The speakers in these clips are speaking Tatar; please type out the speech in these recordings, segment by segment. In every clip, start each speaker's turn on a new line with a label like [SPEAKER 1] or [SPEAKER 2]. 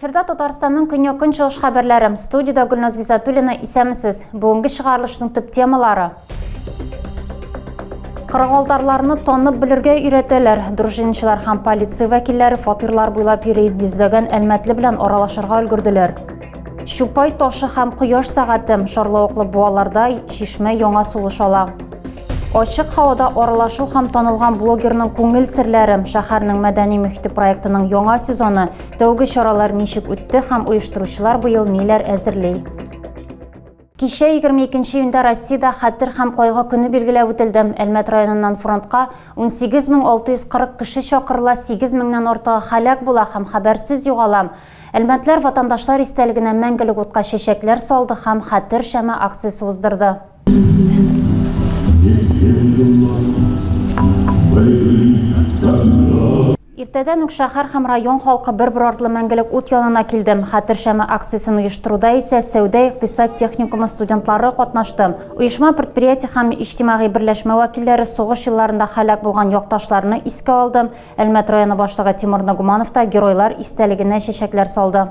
[SPEAKER 1] Эфирда Татарстанның көньяк көнчыгыш хәбәрләре. Студиядә Гөлназ Гизатуллина исәмсез. Бүгенге чыгарылышның төп темалары. Кырыгалтарларны танып белергә өйрәтәләр. Дружинчылар һәм полиция вәкилләре фатирлар буйлап йөри, йөзләгән әлмәтле белән аралашырга өлгерделәр. Чупай ташы һәм кояш сәгате шарлавыклы буаларда чишмә яңа сулыш ала. Ачык һавада аралашу һәм танылган блогерның күңел серләре шәһәрнең мәдәни мөхите проектының яңа сезоны тәүге чаралар ничек үтте һәм оештыручылар быел ниләр әзерли. Кичә, егерме икенче июньдә Россиядә Хәтер һәм кайгы көне билгеләп үтелде. Әлмәт районыннан фронтка 18 мең 640 кеше чакырыла, 8 меңнән артыгы һәлак була һәм хәбәрсез югала. Әлмәтләр ватандашлар истәлегенә мәңгелек утка чәчәкләр салды һәм Хәтер шәме акциясе уздырды. Иртәдән үк шәһәр һәм район халкы бер-бер артлы мәңгелек ут янына килде. Хәтер шәме акциясен оештыруда исә сәүдә-икътисад техникумы студентлары катнашты. Оешма, предприятие һәм иҗтимагый берләшмә вәкилләре сугыш елларында һәлак булган якташларны искә алды, Әлмәт районы башлыгы Тимур Ногуманов та Геройлар истәлегенә чәчәкләр салды.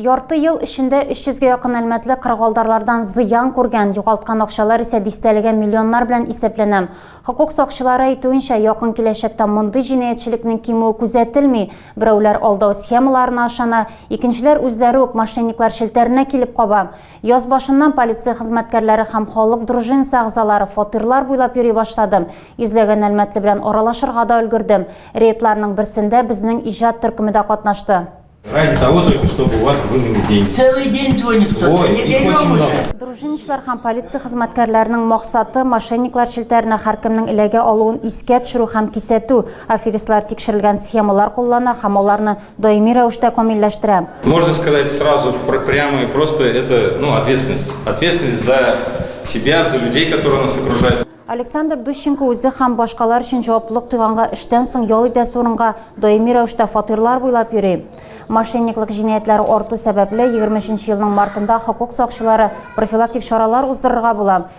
[SPEAKER 1] Ярты ел эчендә 300 ге якын әлмәтле кыргалдарлардан зыян күргән, югалткан акчалар исә дистәлегә миллионнар белән исәпләнә. Хокук сакчылары әйтүенчә, якын киләчәктә мондый җинаятьчелекнең кимүе күзәтелми, Берәүләр алдау схемаларына ышана, икенчеләр үзләре үк мошенниклар челтәренә килеп каба. Яз башыннан полиция хезмәткәрләре һәм халык дружинасы әгъзалары фатирлар буйлап йөри башлады. Йөзләгән әлмәтле белән аралашырга да өлгердем. Рейдларның берсендә безнең иҗат төркеме дә катнашты. Ради того
[SPEAKER 2] только, чтобы у вас были деньги. Целый день звонит кто-то. Ой, Не их
[SPEAKER 3] очень берем уже. много. Дружинничылар һәм
[SPEAKER 1] полиция хезмәткәрләренең максаты, мошенниклар челтәренә һәркемнең эләгә алуын искә төшерү һәм кисәтү. Аферистлар тикшерелгән схемалар куллана һәм аларны даими рәвештә камилләштерә. Можно сказать
[SPEAKER 2] сразу прямо и просто это, ну, ответственность. Ответственность за себя, за людей, которые нас окружают. Александр Дущенко
[SPEAKER 1] үзе һәм башкалар өчен җаваплылык тойганга эштән соң ял итәсе урынга даими рәвештә фатирлар буйлап йөри. Мошенниклык җинаятьләре арту сәбәпле 23 елның мартында хокук сакчылары профилактик чаралар уздырырга була.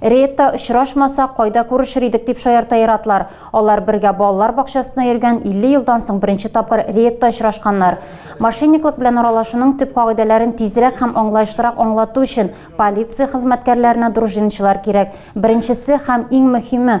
[SPEAKER 1] Рейдта очрашмасак, кайда күрешер идек, дип шаярта ир-атлар. Алар бергә балалар бакчасына йөргән, 50 елдан соң беренче тапкыр рейдта очрашканнар. Мошенниклык белән аралашуның төп кагыйдәләрен тизрәк һәм аңлаешлырак аңлату өчен полиция хезмәткәрләренә дружиннчылар кирәк. Беренчесе һәм иң мөһиме,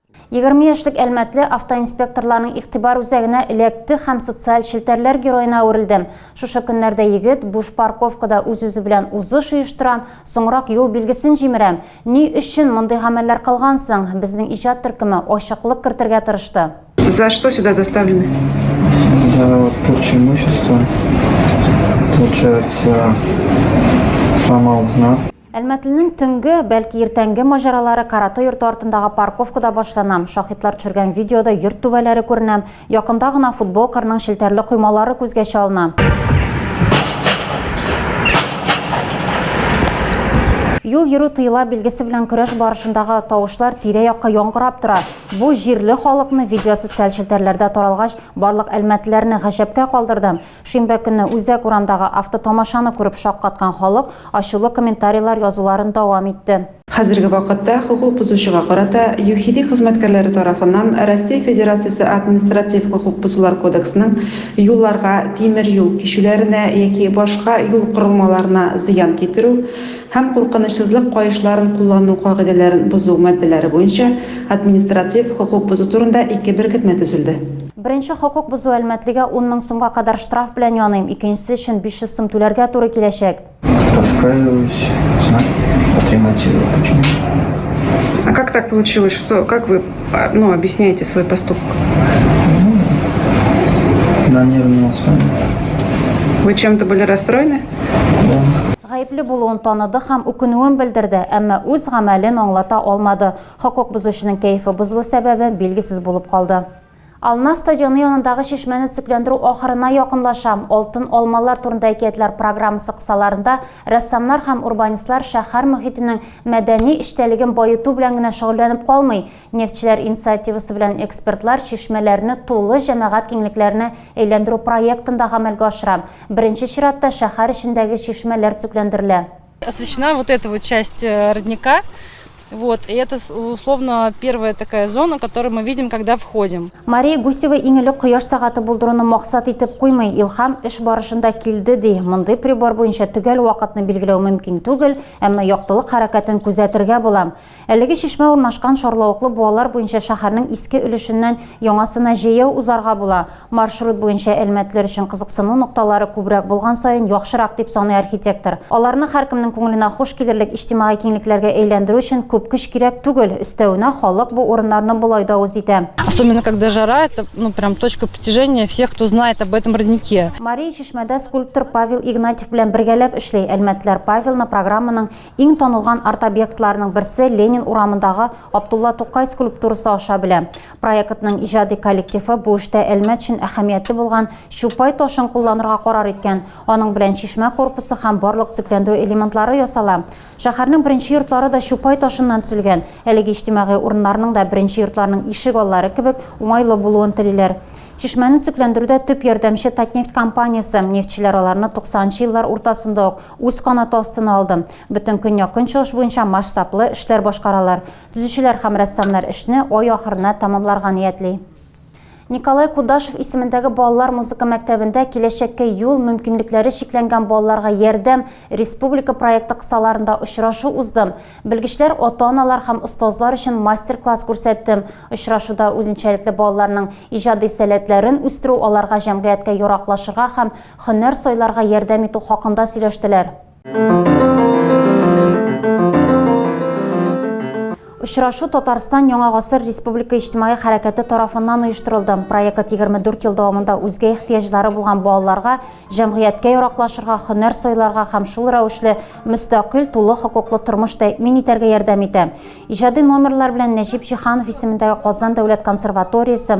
[SPEAKER 1] Егерме яшьлек әлмәтле автоинспекторларның игътибар үзәгенә эләкте һәм социаль челтәрләр героена әверелде. Шушы көннәрдә егет буш парковкада үз-үзе белән узыш оештыра, соңрак юл билгесен җимерә. Ни өчен мондый гамәлләр кылган соң? Безнең иҗат төркеме ачыклык кертергә тырышты. За что сюда
[SPEAKER 4] доставлены? За
[SPEAKER 5] вот порчу имущества. Получается, сломал знак. Әлмәтлнең төнге,
[SPEAKER 1] бәлки иртәнге маҗаралары каратэ йорты артындагы парковкада башлана. Шаһитлар төшергән видеода йорт түбәләре күренә, якында гына футбол кырының челтәрле коймалары күзгә чалына. Юл йөрү тыела билгесе белән көрәш барышындагы тавышлар тирә-якка яңгырап тора. Бу җирле халыкны видео социаль челтәрләрдә таралгач, барлык әлмәтләрне гаҗәпкә калдырды. Шимбә көнне үзәк урамдагы автотомашаны күреп шаккаткан халык ачулы комментарийлар язуларын дәвам итте. Хәзерге вакытта
[SPEAKER 4] хокук бозучыга карата ЮХИДИ хезмәткәрләре тарафыннан Россия Федерациясе Административ хокук бозулар кодексының юлларга, тимер юл кичүләренә яки башка юл корылмаларына зыян китерү һәм куркынычсызлык каешларын куллану кагыйдәләрен бозу маддәләре буенча административ хокук бозу турында ике беркетмә төзелде. Беренче хокук
[SPEAKER 1] бозу әлмәтлегә ун мең сумга кадәр штраф белән яныйм, икенчесе өчен 500 сум түләргә туры киләчәк. Раскаиваюсь,
[SPEAKER 5] знак отремонтировал. Почему?
[SPEAKER 4] А как так получилось, что, как вы, а, ну, объясняете свой поступок?
[SPEAKER 5] На нервной основе. Вы
[SPEAKER 4] чем-то были расстроены? Да.
[SPEAKER 5] Гаепле булуын
[SPEAKER 1] таныды һәм үкенүен белдерде, әмма үз гамәлен аңлата алмады. Хокук бозучының кәефе бозылу сәбәбе билгесез булып калды. Ална стадионы янындагы чишмәне төзекләндерү ахырына якынлашам. Алтын алмалар турында әкиятләр программасы кысаларында рәссамнар һәм урбанистлар шәһәр мөхитенең мәдәни эчтәлеген баету белән генә шөгыльләнеп калмый. Нефтьчеләр инициативасы белән экспертлар чишмәләрне тулы җәмәгать киңлекләренә әйләндерү проектын да гамәлгә ашыра. Беренче чиратта шәһәр эчендәге чишмәләр төзекләндерелә. Освещена вот
[SPEAKER 6] эта вот часть э, родника. Вот, и это условно первая такая зона, которую мы видим, когда входим. Мария Гусева
[SPEAKER 1] иң элек кояш сагаты булдыруны максат итеп куймый, илһам эш барышында килде ди. Мондый прибор буенча төгәл вакытны билгеләү мөмкин түгел, әмма яктылык хәрәкәтен күзәтергә була. Әлеге чишмә урнашкан Шарлавыклы буалар буенча шәһәрнең иске өлешеннән яңасына җәяү узарга була. Маршрут буенча әлмәтләр өчен кызыксыну нокталары күбрәк булган саен яхшырак, дип саный архитектор. Аларны һәркемнең күңеленә хуш килерлек иҗтимагый киңлекләргә әйләндерү өчен күп көч кирәк түгел. Өстәвенә, халык бу урыннарны болай да үз итә. Особенно когда жара,
[SPEAKER 6] это, ну, прям точка притяжения всех, кто знает об этом роднике. Мария чишмәдә
[SPEAKER 1] скульптор Павел Игнатьев белән бергәләп эшли. Әлмәтләр Павелны программаның Иң танылган арт-объектларның берсе Ленин урамындагы Абдулла Тукай скульптурасы аша белә. Проектның иҗади коллективы бу эштә Әлмәт өчен әһәмиятле булган Чупай ташын кулланырга карар иткән. Аның белән чишмә корпусы һәм барлык төзекләндерү элементлары ясала. Шәһәрнең беренче йортлары да Чупай ташыннан төзелгән. Әлеге иҗтимагый урыннарның да беренче йортларның ишек аллары кебек уңайлы булуын телиләр. Чишмәне төзекләндерүдә төп ярдәмче Татнефть компаниясе. Нефтьчеләр аларны 90 нчы еллар уртасында ук Үз канаты астына алды. Бөтен Көньяк-Көнчыгыш буенча масштаблы эшләр башкаралар. Төзүчеләр һәм рәссамнар эшне ай ахырына тәмамларга ниятли. Николай Кудашев исемендәге балалар музыка мәктәбендә Киләчәккә юл мөмкинлекләре чикләнгән балаларга ярдәм республика проекты кысаларында очрашу узды. Белгечләр, ата-аналар һәм остазлар өчен мастер-класс күрсәтте. Очрашуда үзенчәлекле балаларның иҗади сәләтләрен үстерү, аларга җәмгыятькә яраклашырга һәм Хөннәр сайларга ярдәм итү хакында сөйләштеләр. Очрашу Татарстан Яңа гасыр республика иҗтимагый хәрәкәте тарафыннан оештырылды. Проект 24 ел дәвамында үзгә ихтыяҗлары булган балаларга җәмгыятькә яраклашырга, һөнәр сайларга һәм шул рәвешле мөстәкыйль, тулы хокуклы тормыш тәэмин итәргә ярдәм итә. Иҗади номерлар белән Нәҗип Җиһанов исемендәге Казан дәүләт консерваториясе,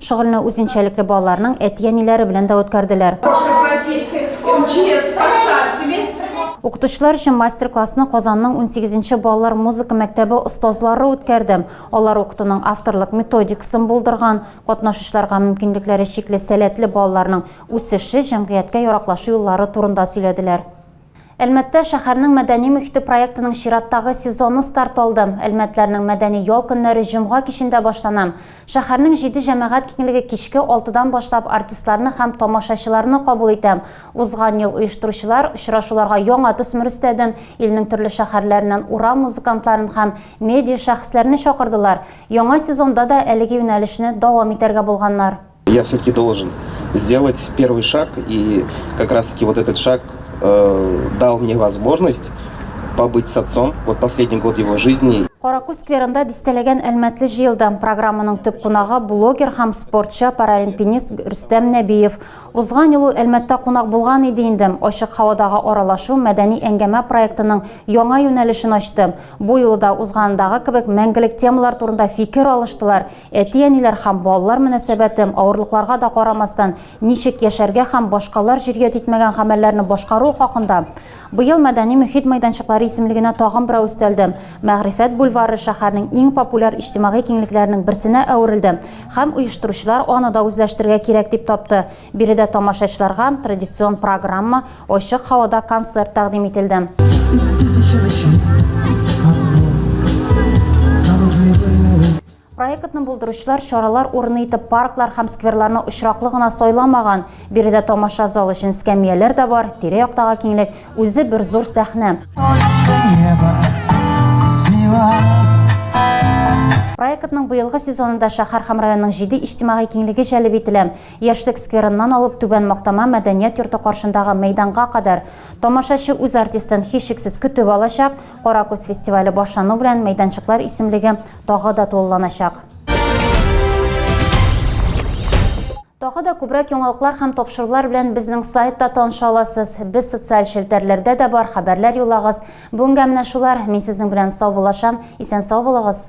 [SPEAKER 1] Шөгыльне үзенчәлекле балаларның әти-әниләре белән дә үткәрделәр. Укытучылар өчен мастер-классны Казанның унсигезенче балалар музыка мәктәбе остазлары үткәрде. Алар укытуның авторлык методикасын булдырган, катнашучыларга мөмкинлекләре чикле сәләтле балаларның үсеше, җәмгыятькә яраклашу юллары турында сөйләделәр. Әлмәттә шәһәрнең мәдәни мохите проектының чираттагы сезоны старт алды. Әлмәтләрнең мәдәни ял көннәре җомга кичендә башлана. Шәһәрнең җиде җәмәгать киңлеге кичке алтыдан башлап артистларны һәм тамашачыларны кабул итә. Узган ел оештыручылар очрашуларга яңа төсмер өстәде, илнең төрле шәһәрләреннән урам музыкантларын һәм медиашәхесләрне чакырдылар. Яңа сезонда да әлеге юнәлешне дәвам итәргә булганнар. Я всё-таки должен
[SPEAKER 7] сделать первый шаг и как раз таки вот этот шаг э, дал мне возможность побыть с отцом вот последний год его жизни Каракүз скверында
[SPEAKER 1] дистәләгән әлмәтле җыелды. Программаның төп кунагы блогер һәм спортчы паралимпинист Рөстәм Нәбиев. Узган ел Әлмәттә кунак булган иде инде. Ачык һавадагы аралашу мәдәни әңгәмә проектының яңа юнәлешен ачты. Бу юлы да узгандагы кебек мәңгелек темалар турында фикер алыштылар. Әти-әниләр һәм балалар мөнәсәбәте, авырлыкларга да карамастан, ничек яшәргә һәм башкалар җөрьәт итмәгән гамәлләрне башкаруы хакында. Быел Мәдәни мөхит мәйданчыклары исемлегенә тагын берәү өстәлде. Мәгърифәт бульвары шәһәрнең иң популяр иҗтимагый киңлекләренең берсенә әверелде һәм оештыручылар аны да үзләштерергә кирәк дип тапты. Биредә тамашачыларга традицион программа, ачык һавада концерт тәкъдим ителде. Проектны булдыручылар чаралар урыны итеп парклар һәм скверларны очраклы гына сайламаган. Биредә тамаша залы өчен скамияләр дә бар, тирә-яктагы киңлек үзе бер зур сәхнә. Проектның быелгы сезонында шәһәр һәм районның җиде иҗтимагый киңлеге җәлеп ителә. Яшьлек скверыннан алып Түбән Мактама мәдәният йорты каршындагы мәйданга кадәр. Тамашачы үз артистын, һичшиксез, көтеп алачак. Кара күз фестивале башлану белән мәйданчыклар исемлеге тагы да тулыланачак. Тагы да күбрәк яңалыклар һәм тапшырулар белән безнең сайтта таныша аласыз. Без социаль челтәрләрдә дә бар, хәбәрләр юлагыз. Бүгенгә менә шулар. Мин сезнең белән саубуллашам. Исән-сау булыгыз.